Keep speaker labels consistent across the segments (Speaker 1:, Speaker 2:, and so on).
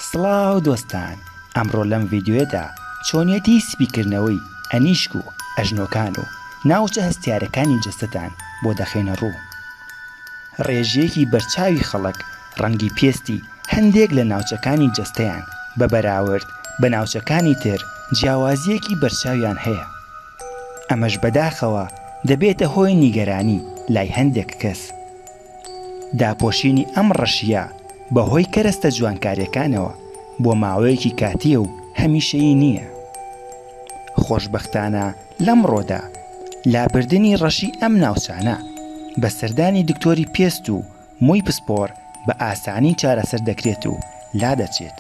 Speaker 1: سڵاو دۆستان ئەمڕۆ لەم ڤیددیوێدا چۆنیەتی سپی کردنەوەی ئەنیشک و ئەژنۆکان و ناوچە هەستیارەکانی جەستەتان بۆ دەخەینە ڕوو ڕێژیەکی بەرچاوی خەڵک ڕەنگی پێستی هەندێک لە ناوچەکانی جەستەیان بە بەراورد بە ناوچەکانی تر جیاوازیەکی بەرچاویان هەیە ئەمەش بەداخەوە دەبێتە هۆی نیگەرانی لای هەندێک کەس داپۆشینی ئەم ڕەشییە بە هۆی کەرەستە جوانکارییەکانەوە بۆ ماوەیەکی کاتییە و هەمیشەیی نییە. خۆشبەختانە لەمڕۆدا لابردنی ڕەشی ئەم ناوچانە بە سەردانی دکتۆری پێست و مووی پسپۆڕ بە ئاسانی چارەسەر دەکرێت و لادەچێت.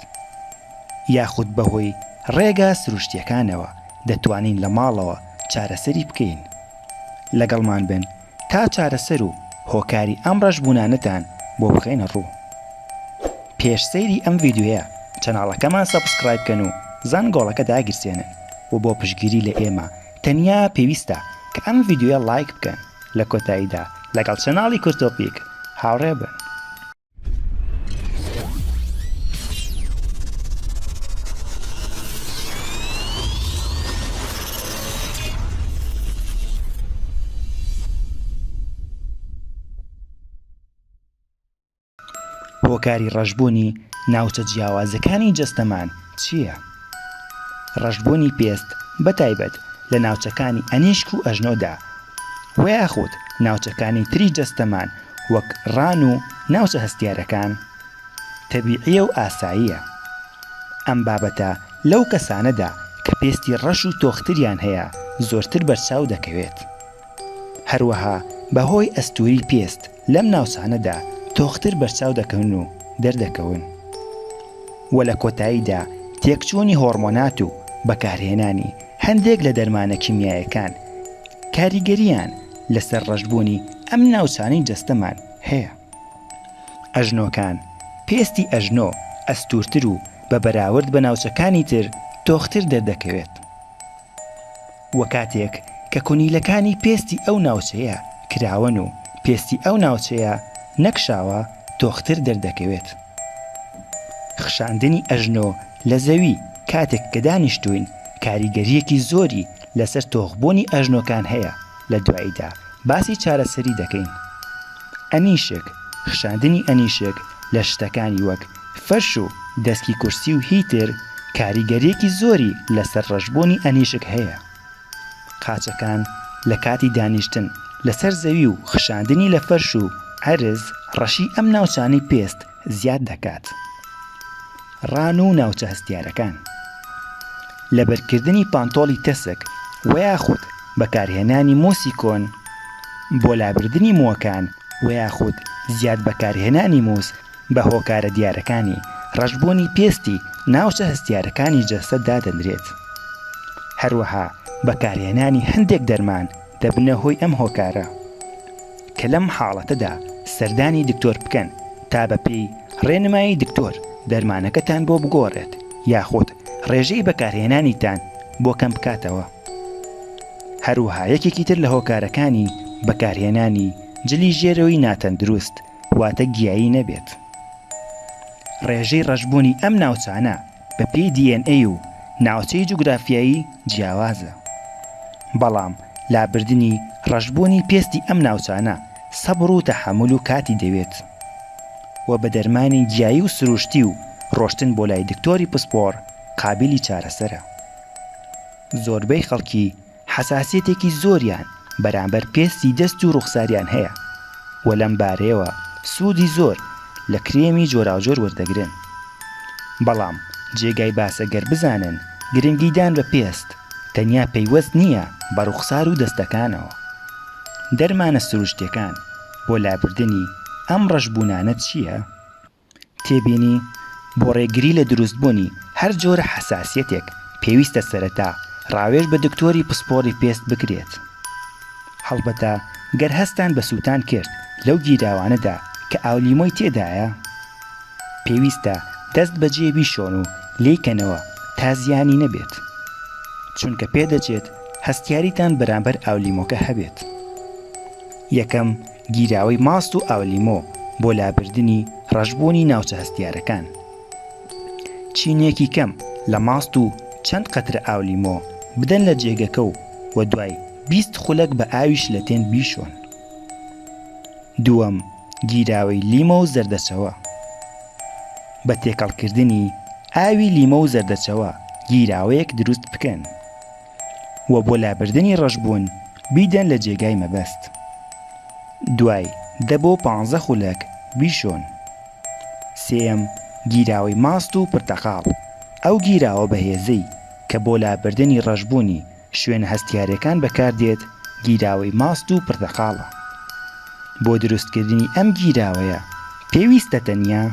Speaker 1: یاخود بە هۆی ڕێگا سروشتییەکانەوە دەتوانین لە ماڵەوە چارەسەری بکەین. لەگەڵمان بن تا چارەسەر و هۆکاری ئەم ڕەشبوونانەتان بۆ بخەینە ڕوو. پێش سەیری ئەم ڤیدیۆیە چەناڵەکەمان سەبسکرایب کەن و زەنگۆڵەکە داگیرسێنن و بۆ پشتگیری لە ئێمە تەنیا پێویستە کە ئەم ڤیدیۆیە ڵایک بکەن لە کۆتاییدا لەگەڵ چەناڵی کورتۆپیک هاوڕێ بن. هۆکاری ڕەشبوونی ناوچە جیاوازەکانی جەستەمان چییە؟ ڕەشبوونی پێست بە تایبەت لە ناوچەکانی ئەنیشک و ئەژنۆدا وە یاخود ناوچەکانی تری جەستەمان وەک ڕان و ناوچە هەستیارەکان، تەبیعییە و ئاساییە. ئەم بابەتە لەو کەسانەدا کە پێستی ڕەش و تۆختریان هەیە زۆرتر بەرچاو دەکەوێت. هەروەها بەهۆی ئەستووری پێست لەم ناوچانەدا تۆختر بەرچاو دەکەون و دەردەکەون و لە کۆتاییدا تێکچوونی هۆڕمۆنات و بەکارهێنانی هەندێک لە دەرمانە کیمیایەکان کاریگەرییان لەسەر ڕەشبوونی ئەم ناوچانەی جەستەمان هەیە. ئەژنۆکان، پێستی ئەژنۆ ئەستوورتر و بە بەراورد بە ناوچەکانی تر تۆختر دەردەکەوێت و کاتێک کە کونیلەکانی پێستی ئەو ناوچەیە کراوەن و پێستی ئەو ناوچەیە نەکشاوە تۆختر دەردەکەوێت. خشاندنی ئەژنۆ لە زەوی کاتێک کە دانیشتووین کاریگەرییەکی زۆری لەسەر تۆخبوونی ئەژنۆکان هەیە لە دواییدا باسی چارەسەری دەکەین. ئەنیشک، خشاندنی ئەنیشک لە شتەکانی وەک فەرش و دەسکی کورسی و هی تر کاریگەرییەکی زۆری لەسەر ڕەشبوونی ئەنیشک هەیە. قاچەکان لە کاتی دانیشتن لەسەر زەوی و خشاندنی لە فەرش و عەرز ڕەشی ئەم ناوچانەی پێست زیاد دەکات. ڕان و ناوچە هەستیارەکان، لەبەرکردنی پانتۆڵی تەسک وەیاخود بەکارهێنانی مۆسی کۆن بۆ لابردنی موەکان وەیاخود زیاد بەکارهێنانی موس بە هۆکارە دیارەکانی ڕەشبوونی پێستی ناوچە هەستیارەکانی جەستە دادەنرێت. هەروەها بەکارهێنانی هەندێک دەرمان، دەبنە هۆی ئەم هۆکارە کە لەم حاڵەتەدا سەردانی دکتۆر بکەن تا بە پێی ڕێنمایی دکتۆر دەرمانەکەتان بۆ بگۆڕێت یاخود ڕێژەی بەکارهێنانیتان بۆ کەم بکاتەوە هەروەها یەکێکی تر لە هۆکارەکانی بەکارهێنانی جلی ژێرەوەی ناتەندروست واتە گیایی نەبێت ڕێژەی ڕەشبوونی ئەم ناوچانە بە پێی دی ئێن ئەی و ناوچەی جوگرافیایی جیاوازە بەڵام لابردنی ڕەشبوونی پێستی ئەم ناوچانە سەبڕ و تەحەمول و کاتی دەوێت و بە دەرمانی گیایی و سروشتی و ڕۆشتن بۆ لای دکتۆری پسپۆڕ قابیلی چارەسەرە زۆربەی خەڵکی حەساسیەتێکی زۆریان بەرامبەر پێستی دەست و ڕوخساریان هەیە و لەم بارەیەوە سوودی زۆر لە کرێمی جۆراوجۆر وەردەگرن بەڵام جێگای باسە گەر بزانن گرنگیدان بە پێست تەنیا پەیوەست نییە بە ڕوخسار و دەستەکانەوە دەرمانە سروشتیەکان بۆ لابردنی ئەم ڕەشبوونانە چییە؟ تێبینی، بۆ ڕێگری لە دروستبوونی هەر جۆرە حەساسیەتێک پێویستە سەرەتا ڕاوێژ بە دکتۆری پسپۆڕی پێست بکرێت هەڵبەتە گەر هەستتان بە سووتان کرد لەو گیراوانەدا کە ئاولیمۆی تێدایە پێویستە دەست بەجێ بیشۆن و لێی کەنەوە تا زیانی نەبێت چونکە پێدەچێت هەستیاریتان بەرامبەر ئاولیمۆکە هەبێت یەکەم گیراوەی ماست و ئاولیمۆ بۆ لابردنی ڕەشبوونی ناوچە هەستیارەکان. چینێکی کەم لە ماست و چەند قەترە ئاولیمۆ بدەن لە جێگەکە و وە دوای بیست خولەک بە ئاوی شلەتێن بیشۆن. دووەم، گیراوەی لیمۆ و زەردەچەوە. بە تێکەڵکردنی ئاوی لیمۆ و زەردەچەوە گیراوەیەک دروست بکەن. و بۆ لابردنی ڕەشبوون بیدەن لە جێگای مەبەست دوای دە بۆ پانزە خولەک بیشۆن سێیەم گیراوەی ماست و پرتەقاڵ ئەو گیراوە بەهێزەی کە بۆ لابردنی ڕەشبوونی شوێنە هەستیارەکان بەکاردێت گیراوەی ماست و پرتەقاڵە بۆ دروستکردنی ئەم گیراوەیە پێویستە تەنیا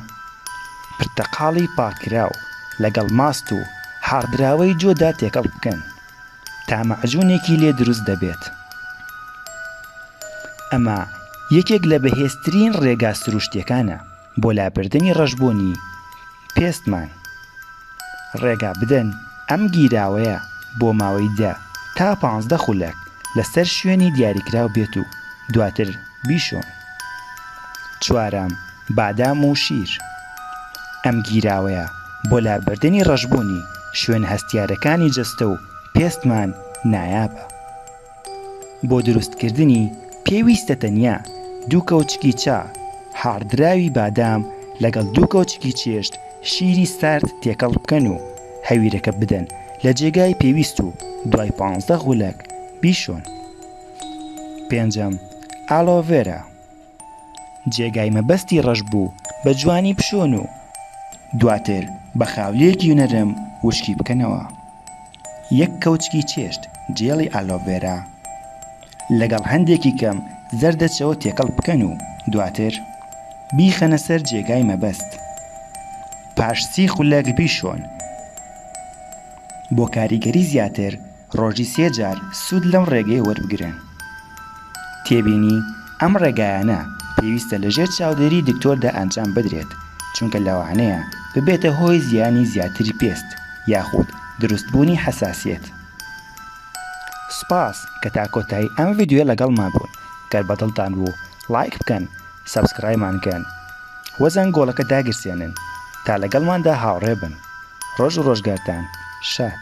Speaker 1: پرتەقاڵی پاککراو لەگەڵ ماست و حاڕدراوەی جۆدا تێکەڵ بکەن تا مەعجونێکی لێ دروست دەبێت ئەمە یەکێک لە بەهێزترین ڕێگا سروشتیەکانە بۆ لابردنی ڕەشبوونی پێستمان ڕێگا بدەن ئەم گیراوەیە بۆ ماوەی دە تا پانزدە خولەک لەسەر شوێنی دیاریکراو بێت و دواتر بیشۆن چوارەم بادام و شیر ئەم گیراوەیە بۆ لابردنی ڕەشبوونی شوێنە هەستیارەکانی جەستە و پێستمان نایابە بۆ دروستکردنی پێویستە تەنیا دوو کەوچکی چا هاڕدراوی بادام لەگەڵ دوو کەوچکی چێشت شیری سارد تێکەڵ بکەن و هەویرەکە بدەن لە جێگای پێویست و دوای پانزدە غولەک بیشۆن. پێنجەم، ئالۆڤێرا جێگای مەبەستی ڕەش بوو بە جوانی بشۆن و دواتر بە خاولیەکی نەرم وشکی بکەنەوە، یەک کەوچکی چێشت جێڵی ئالۆڤێرا لەگەڵ هەندێکی کەم زەردەچەوە تێکەڵ بکەن و دواتر بیخەنە سەر جێگای مەبەست پاش سی خولەک بیشۆن بۆ کاریگەری زیاتر. ڕۆژی سێ جار سوود لەم ڕێگەیە وەربگرن. تێبینی، ئەم ڕێگایانە پێویستە لە ژێر چاودێری دکتۆردا ئەنجام بدرێت، چونکە لەوانەیە ببێتە هۆی زیانی زیاتری پێست یاخود دروستبوونی حەساسیەت. سوپاس کە تا کۆتایی ئەم ڤیدیۆیە لەگەڵمان بوون، گەر بەدڵتان بوو ڵایک بکەن، سەبسکرایمان کەن و زەنگۆڵەکە داگیرسێنن تا لەگەڵماندا هاوڕێ بن ڕۆژ و ڕۆژگارتان شاد